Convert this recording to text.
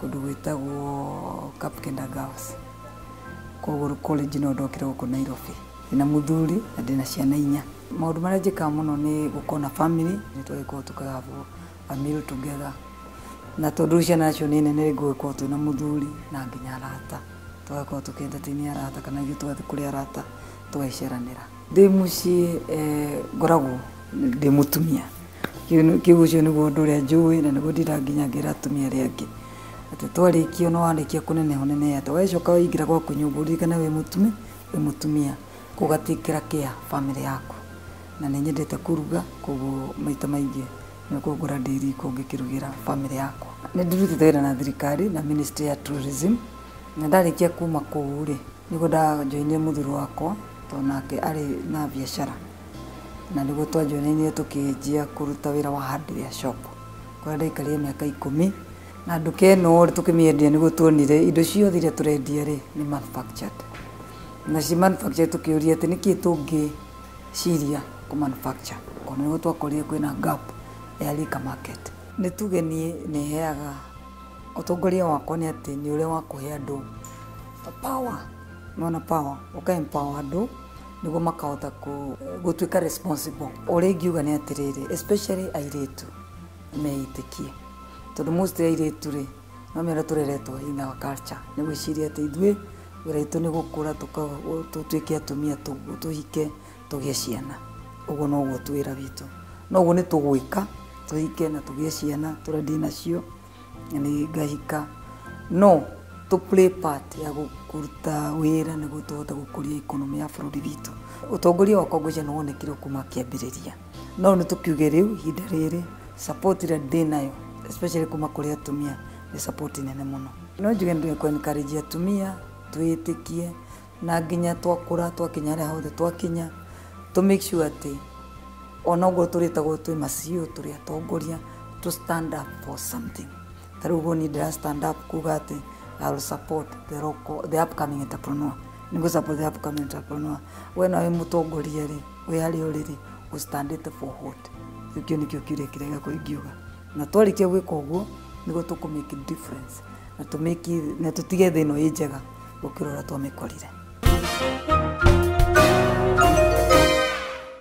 kũndũ gwĩtagwo Kapkenda Girls. Koguo college no ndokire gũkũ Nairobi. Ndĩna mũthuri na ndĩna ciana inya. Maũndũ marĩa njĩkaga mũno nĩ gũkorwo na family, nĩ tũgĩkorwo tũkahabo a meal together. Na tondũ rĩu ciana nacio nĩ nene rĩ ngũgĩkorwo twĩna mũthuri na nginya arata. Tũgakorwo tũkĩ entertain arata kana ithuĩ tũgathiĩ kũrĩ arata tũgagĩceranĩra. Ndĩ mũciĩ ngoragwo ndĩ mũtumia, ũcio nĩguo ũndũ ũrĩa njũĩ na nĩguo ndĩraga nginya ngera atumia arĩa angĩ. Atĩ twarĩkia ona warĩkia kũneneha ũnenehe atĩa, wacoka waingĩra gwaku nyũmba ũririkane wĩ mũtumia, kũguo ũgatigĩra care bamĩrĩ yaku. Na nĩ nyendete kũruga kũguo maita maingĩ nĩkuo ngora ndĩ riko ngĩkĩrugĩra bamĩrĩ yakwa. Nĩ ndĩrutĩte wĩra na thirikari na ministry ya tourism na ndarĩkia kuma kũu rĩ, Nĩguo ndajoinire mũthuri wakwa tondũ nake arĩ na biacara na nĩguo twajoinanire tũkĩanjia kũruta wĩra wa hardware shop kũrĩa ndaikarire mĩaka ikũmi na nduka ĩno rĩ tũkĩmĩendia nĩguo tuonire indo ciothe iria tũrendia rĩ nĩ manufactured na ci manufactured tũkĩũria atĩ nĩkĩ tũngĩciria kũ manufacture tondũ nĩguo twakorire kwĩna gap ya liquor market. Nĩ tuge niĩ nĩheaga Ũtongoria wakwa nĩ atĩ nĩ ũrĩa wa kũhe andũ power, nĩ wona power, ũka empower andũ nĩguo makahota gũtuĩka responsible. Ũrĩa ingiuga nĩ atĩrĩrĩ, especially airĩtu meĩtĩkie, tondũ mostly airĩtu rĩ, nĩ ũramenya ũrĩa tũreretwo in our culture, nĩ gwĩciria atĩ ithuĩ wĩra witũ nĩ gũkũra tũtuĩke atumia tũhike. tũgĩe ciana ũguo noguo tu wĩra witũ noguo nĩ tũgwĩka tũhike na tũgĩe ciana tũrĩa ndĩ nacio na nĩ ngahika no tũ play part ya gũ- kũruta wĩra nĩguo tũhote gũkũria ikonomi ya bũrũri witũ ũtongoria wakwa ngwĩcia nĩ wonekire kuma kĩambĩrĩria no nĩ tũkiuge rĩu ihinda rĩrĩ support ĩrĩa ndĩ nayo especially kuma kũrĩ atumia nĩ support nene mũno no njuge nĩ kwenikarĩjia atumia twĩtĩkie Na nginya twakũra twakinya harĩa hothe twakinya tũ make sure atĩ ona ũguo tũrĩtagwo twĩ ma CEO tũrĩ atongoria tũ stand up for something. Ta rĩu ũguo niĩ ndĩra stand up kuga atĩ I will support the local, the upcoming entrepreneur. Nĩ ngũ support the upcoming entrepreneur. We na wĩ mũtongoria rĩ, wĩ harĩa ũrĩ rĩ, ũ stand ĩte for what? Rĩu kĩu nĩkĩo kiuria kĩrĩa gĩakwa ingiuga. Na twarĩkia gwĩka ũguo nĩguo tũkũ make difference na tũ make, na tũtige thĩ ĩno ĩ njega. gũkĩra ũrĩa twamĩkorire.